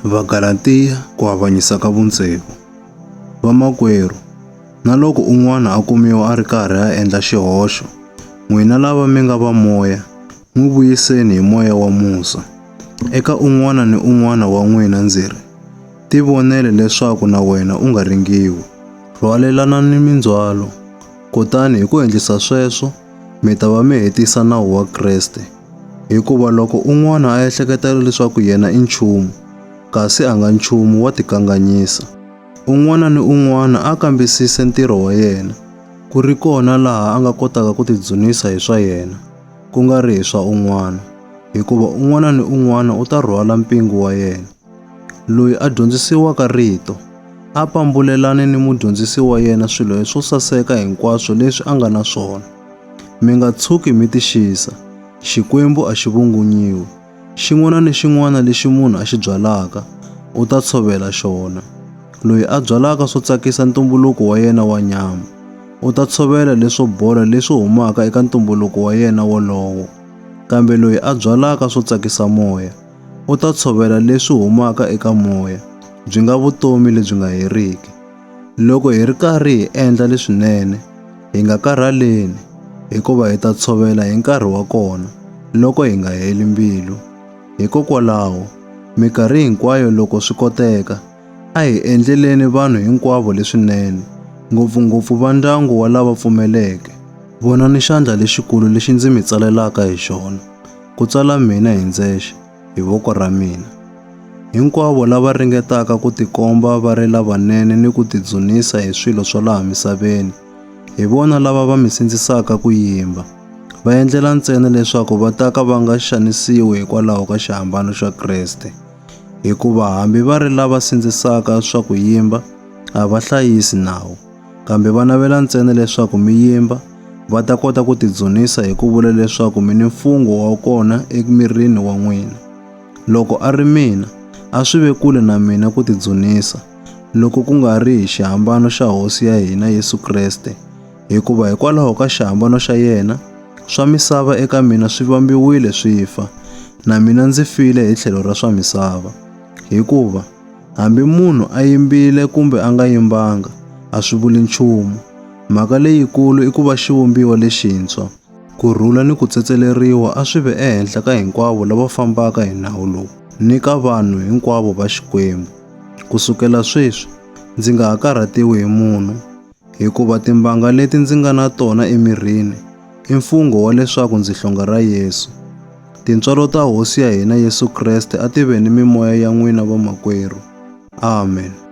Vagalathiya, Ku avanyisa ka vutsevu. Vamakwerhu, na loko un'wana a kumiwa a ri karhi a endla xihoxo, n'wina lava mi nga va moya, n'wi vuyiseni hi moya wa musa. Eka un'wana ni un'wana wa n'wina ndzi ri, Tivonele leswaku na wena u nga ringiwi. Rhwalelanani mindzhwalo, kutani hi ku endlisa sweswo mi ta va mi hetisa nawu wa Kreste. Hikuva loko un'wana a ehleketa leswaku yena i nchumu, kasi a nga nchumu wa tikanganyisa. Un'wana ni un'wana a kambisise ntirho wa yena, ku ri kona laha a nga kotaka ku tidzunisa hi swa yena, ku nga ri hi swa un'wana, hikuva un'wana ni un'wana u ta rhwala mpingu wa yena. Loyi a dyondzisiwaka rito a pambulelane ni mudyondzisi wa yena swilo leswo saseka hinkwaswo leswi a nga na swona. Mi nga tshuki mi tixisa, Xikwembu a xi vungunyiwi. Xin'wana ni xin'wana lexi munhu a xi byalaka, u ta tshovela xona. Loyi a byalaka swo tsakisa ntumbuluko wa yena wa nyama, u ta tshovela leswo bola leswi humaka eka ntumbuluko wa yena wolowo. Kambe loyi a byalaka swo tsakisa moya, U ta tshovela leswi humaka eka moya, byi nga vutomi lebyi nga heriki. Loko hi ri karhi hi endla leswinene, hi nga karhaleni, hikuva hi ta tshovela hi nkarhi wa kona loko hi nga heli mbilu. Hikokwalaho, mikarhi hinkwayo loko swi koteka, a hi endleleni vanhu hinkwavo leswinene, ngopfu-ngopfu va ndyangu wa lava pfumeleke. Vonani xandla lexikulu lexi ndzi mi tsalelaka hi xona. ku tswala mina hi ndzexe hi voko ra mina. Hinkwavo lava ringetaka ku tikomba va ri lavanene ni ku tidzunisa hi swilo swa laha misaveni, hi vona lava va mi sindzisaka ku yimba, va endlela ntsena leswaku va ta ka va nga xanisiwi hikwalaho ka xihambano xa Kreste. Hikuva hambi va ri lava sindzisaka swa ku yimba, a va hlayisi nawu. kambe va navela ntsena leswaku mi yimba va ta kota ku tidzunisa hi ku vula leswaku mi ni mfungho wa kona emirini wa n'wina. Loko a ri mina, a swi ve kule na mina ku tidzunisa, loko ku nga ri hi xihambano xa Hosi ya hina Yesu Kreste, hikuva hikwalaho ka xihambano xa yena, swa misava eka mina swi vambiwile swi fa, na mina ndzi file hi tlhelo ra swa misava. Hikuva, Hambi munhu a yimbile kumbe a nga yimbanga, a swi vuli nchumu. Mhaka leyikulu i ku va xivumbiwa lexintshwa. Ku rhula ni ku tsetseleriwa a swi ve ehenhla ka hinkwavo lava fambaka hi nawu lowu ni ka vanhu hinkwavo va Xikwembu. Ku sukela sweswi, ndzi nga ha karhatiwi hi munhu. Hikuva timbanga leti ndzi nga na tona emirini i mfungho wa leswaku ndzi hlonga ra Yesu. Tintswalo ta Hosi ya hina Yesu Kreste a ti ve ni mimoya ya n'wina vamakwerhu. Amen.